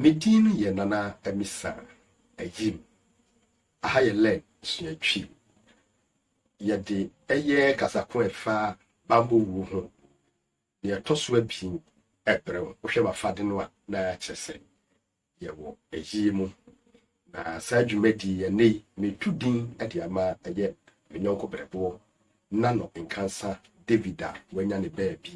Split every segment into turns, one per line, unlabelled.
Me din yɛ Nana Amisa Ayim. Aha yɛ Lɛn suatwi. Yɛde ɛyɛ kasa ko ɛfa bammɔ wuo ho. Deɛ ɛtɔ so abien ɛbrɛ wo. Wohwɛ m'afade no a na kyerɛ sɛ yɛwɔ ayie mu. Na saa dwumadi yi ɛnnɛ yi metu din de ama ɛyɛ me nyɔnko berɛboɔ Nano Nkansa David a wanya ne baabi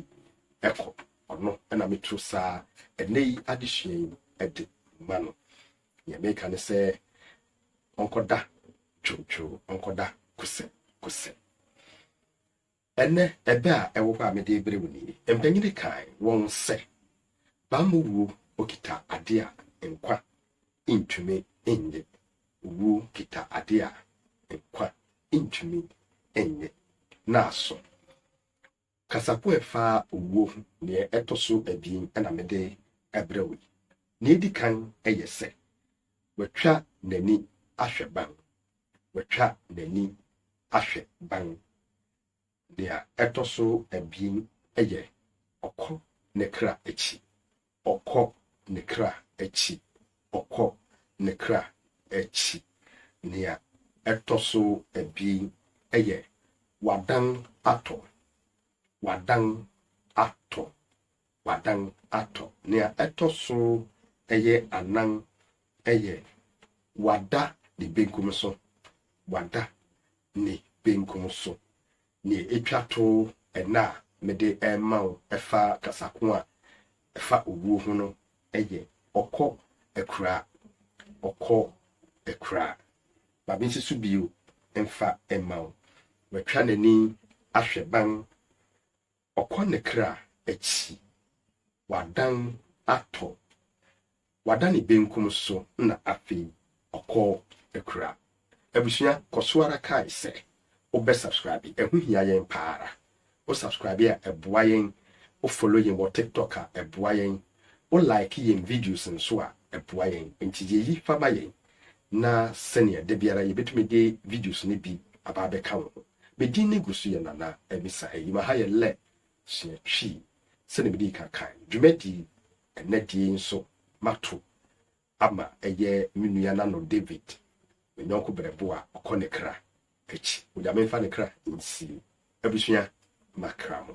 ɛkɔ ɔno ɛna metu saa ɛnnɛ yi adesua yi ɛde ma no. Nea meka ne sɛ ɔnkɔda twewtwew, ɔnkɔda kosɛ kosɛ. Ɛnnɛ, ɛbɛ a ɛwɔ hɔ a mede rebrɛ wo nie, Mpanyini kae wɔn sɛ, Bammɔ wuo okita adeɛ a nkwa ntumi nnye. Wuo kita adeɛ a nkwa ntumi nnye. Naaso, kasakoa a ɛfa owuo ho deɛ ɛtɔ so abien na mede rebrɛ wo yi. Nea edi kan yɛ sɛ, watwa n'ani ahwɛ ban. watwa n'ani ahwɛ ban. Nea ɛtɔ so abien yɛ, ɔkɔ ne kra akyi, ɔkɔ ne kra akyi, ɔkɔ ne kra akyi. Nea ɛtɔ so abien yɛ, wadan atɔ, wadan atɔ, wadan atɔ. Nea ɛtɔ so ɛyɛ anan ɛyɛ wada ne benkum so, wada ne benkum so. Nea etwa to ɛnnɛ a mede rema wo ɛfa kasa ko a ɛfa owuo ho no ɛyɛ ɔkɔ akura, ɔkɔ akura. Ma me nsi so bio mfa mma wo. Watwa n'ani ahwɛ ban Ɔkɔ ne kra akyi, wadan atɔ. Wada ne benkum so na afei ɔkɔ akura. Abusua kɔ so ara kae sɛ wobɛ subscribe, ɛho hia yɛn pa ara. Wo subscribe a ɛboa yɛn, wo follow yɛn wɔ TikTok a ɛboa yɛn, wo like yɛn videos nso a ɛboa yɛn. Nti yɛ yi fa ma yɛn na sɛnea da biara yɛbɛtumi de videos no bi aba abɛka wo ho. Me din no gu so yɛ Nana Amisa Ayima. Ha yɛ lɛ sua Twi. Sɛnea midii kan kae no, dwumadi ɛnnɛ de yi nso mato ama ɛyɛ me nua Nano David, me yɔnko berɛbo a ɔkɔ ne kra akyi. Onyame mfa ne kra nsie abusua ma kra mu.